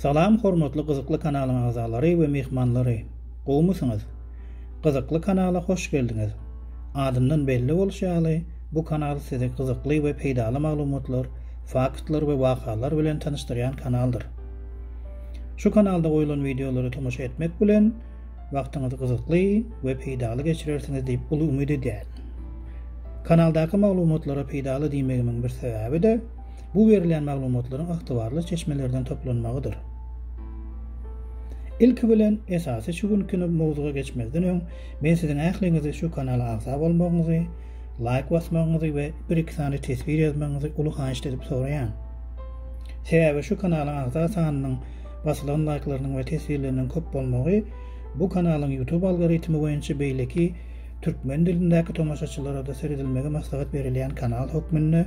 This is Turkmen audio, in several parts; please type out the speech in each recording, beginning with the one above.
Salam hormatly gyzykly kanalyň agzalary we myhmanlary! Gowmysyňyz? Gyzykly kanala hoş geldiňiz! Adyndan belli bolşy ýaly, bu kanal sizi gyzykly we peýdaly maglumatlar, faktlar we wakalar bilen tanyşdyrýan kanaldyr. Şu kanalda goýlan wideolara tomaşa etmek bilen, wagtyňyzy gyzykly we peýdaly geçirersiňiz diýip uly umyt edýärin. Kanaldaky maglumatlara peýdaly diýmegimiň bir sebäbi-de, bu berilýän maglumatlaryň ygtybarly çeşmelerden toplanmagydyr. Ilki bilen, esasy şu günki mowzuga geçmezden öň, men siziň ähliňizi şu kanala agza bolmagyňyzy, laýk basmagyňyzy we bir-iki sany teswir ýazmagyňyzy uly haýyşt edip soraýan. Sebäbi şu kanalyň agza sanynyň basylan laýklarynyň we teswirleriniň köp bolmagy bu kanalyň YouTube algoritmi boýunça beýleki türkmen dilindäki tomaşaçylara-da seredilmegi maslahat berilýän kanal hökmünde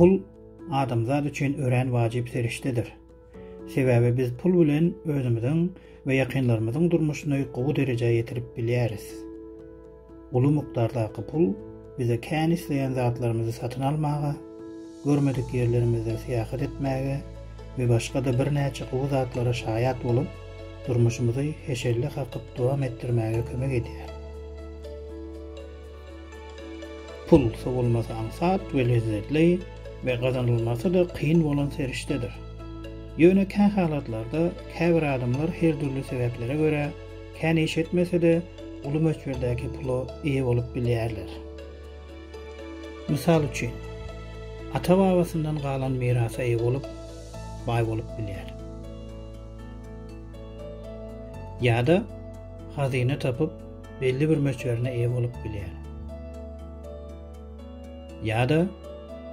Pul adamzat üçin örän wajyp serişdedir. Sebäbi biz pul bilen özümiziň we ýakynlarymyzyň durmuşyny gowy derejä ýetirip bilýäris. Uly mukdardaky pul bize kän isleýän zatlarymyzy satyn almaga, görmedik ýerlerimizde syýahat etmäge we başga-da birnäçe gowy zatlara şaýat bolup, durmuşymyzy heşelle kakyp dowam etdirmäge kömek edýär. Pul, sowulmasy aňsat we lezzetli we gazanylmasy-da kyn bolan serişdedir. Ýöne kähalatlarda käbir adamlar her dürli sebäplere görä, kän iş etmese-de, uly möçberdäki pula eýe bolup bilýärler. Mysal üçin, ata-babasyndan galan mirasa eýe bolup, baý bolup bilýär. Ýa-da hazyna tapyp, belli bir möçberine eýe bolup bilýär. Ýa-da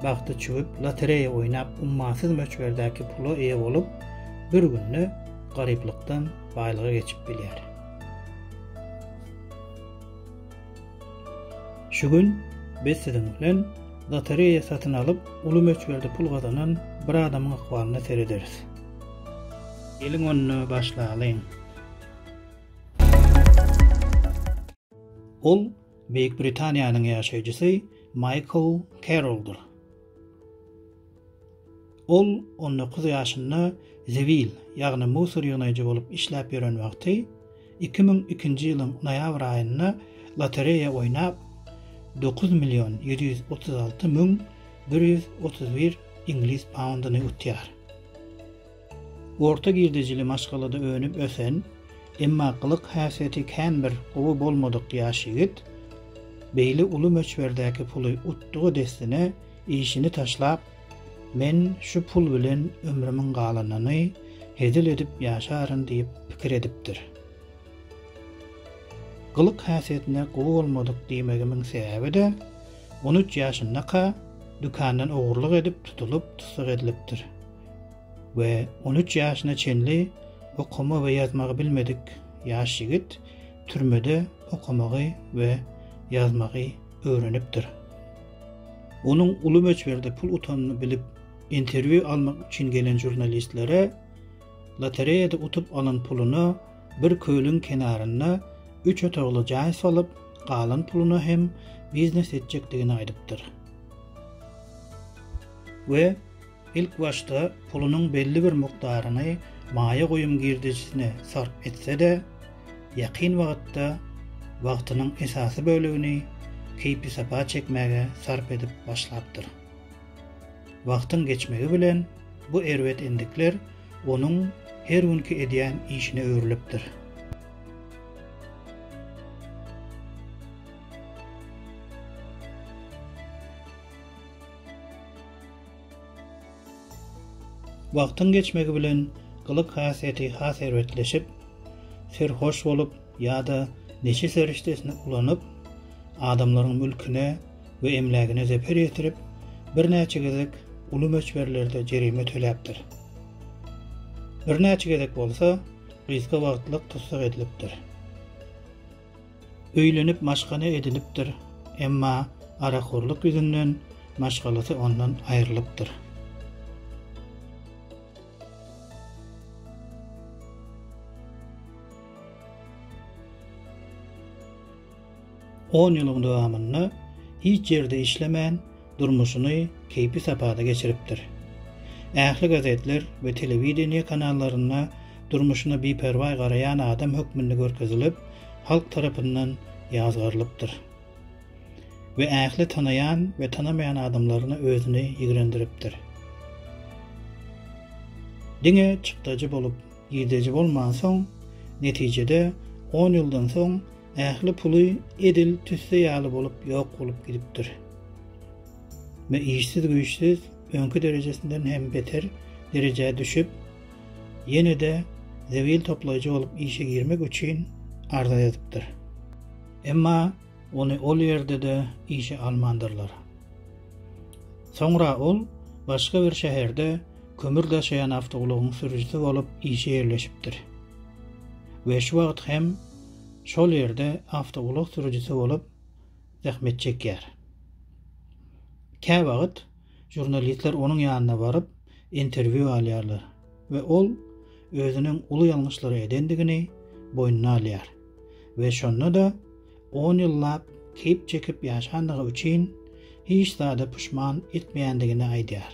bagty çüwüp lotereýa oýnap ummasyz möçberdäki pula eýe bolup, bir günde garyplykdan baýlyga geçip bilýär. Şu gün biz siziň bilen lotereýa satyn alyp, uly möçberde pul gazanan bir adamyň ykbalyna serederis. Geliň onda başlalyň. Ol Beýik Britaniýanyň ýaşaýjysy Maýkl Keroldyr. Ol on dokuz ýaşynda zibil, ýagny musor ýygnaýjy bolup işläp ýören wagty, iki müň ikinji ýylyň noýabr aýynda lotereýa oýnap, dokuz million ýedi ýüz otuz alty müň bir ýüz otuz bir iňlis paundyny utýar. Orta girdejili maşgalada önüp-ösen, emma gylyk-häsiýeti kän bir gowy bolmadyk ýaş ýigit beýle uly möçberdäki puly utdugy dessine işini taşlap, Men şu pul bilen ömrümiň galanyny hezil edip ýaşaryn diýip pikir edipdir. Gylyk-häsiýetine gowy bolmadyk diýmegimiň sebäbi-de, on üç ýaşyndaka dükandan ogurlyk edip tutulyp, tussag edilipdir. we on üç ýaşyna çenli okama we ýazmagy bilmedik ýaş ýigit türmede okamagy we ýazmagy öwrenipdir. Onuň uly möçberde pul utanyny bilip, interwýu almak üçin gelen žurnalistlere lotereýada utup alan puluna bir kölüň kenarynda üç otagly jaý salyp, galan puluna hem biznes etjekdigini aýdypdyr we Ilk başda pulunyň belli bir mukdaryny maýa goýum girdejisine sarp etse-de, ýakyn wagtda wagtynyň esasy bölegini keýpisapa çekmäge sarp edip başlapdyr. Wagtyň geçmegi bilen bu erbet endikler onuň her günki edýän işine öwrülipdir. Wagtyň geçmegi bilen gylyk-hasýeti has erbetleşip, serhoş bolup ýa-da neşe serişdesini ulanyp, adamlaryň mülküne we emlägine zeper ýetirip, birnäçe gezek uly möçberlerde jerime töläpdir. Birnäçe gezek bolsa, gysga wagtlyk tussag edilipdir. Öýlenip maşgala edinipdir, emma arakhorlyk ýüzünden maşgalasy ondan aýrylypdyr. On ýylyň dowamynda hiç ýerde işlemän, durmuşyny keýpi sapada geçiripdir. Ähli gazetler we telewideniýe kanallarynda durmuşyna biperwaý garaýan adam hökmünde görkezilip, halk tarapyndan ýazgarylypdyr. We ähli tanaýan we tanamaýan adamlaryna özüni ýigrendiripdir. Diňe çykdajy bolup, girdeji bolmansoň, netijede, on ýyldan soň, Ähli puly edil tüsse ýaly bolup ýok bolup gidipdir. Ve işsiz-güýçsiz öňki derejesinden hem beter derejä düşüp, ýene-de zebil toplaýjy bolup işe girmek üçin arza ýazypdyr. Emma ony ol ýerde-de işe almandyrlar. Soňra ol başga bir şäherde kömür daşaýan awtoulagyň sürüjisi bolup işe ýerleşipdir. Ve şu wagt hem şol ýerde awtoulag sürüjisi bolup zähmet çekýär. Käwagt žurnalistler onuň ýanyna baryp, interwýu alýarlar we ol özüniň uly ýalňyşlary edendigini boýnuna alýar we şonda-da on ýyllap keýp çekip ýaşandygy üçin hiç zada puşman etmeýändigini aýdýar.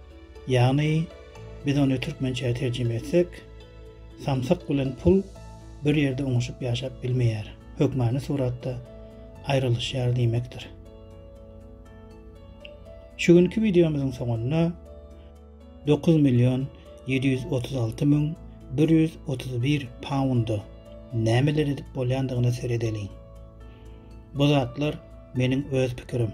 Ýagny, biz ony türkmençä terjime etsek, samsyk bilen pul bir ýerde oňuşyp ýaşap bilmeýär, hökmany suratda aýrylyşýar diýmekdir. Şu günki wideomyzyň soňunda dokuz million ýedi ýüz otuz alty müň bir ýüz otuz bir pounda nämeler edip bolýandygyna seredeliň. Bu zatlar meniň öz pikirim.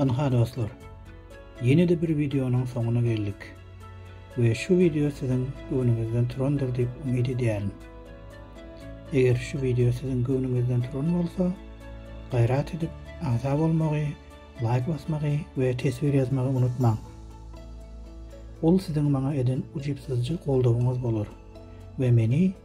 Ynha dostlar, ýene-de bir wideonyň soňuna geldik we şu wideo siziň göwnüňizden turandyr diýip umyt edýärin. Eger şu wideo siziň göwnüňizden turan bolsa, gaýrat edip agza bolmagy, laýk basmagy we teswir ýazmagy unutmaň. Ol siziň maňa eden ujypsyzja goldawyňyz bolar we meni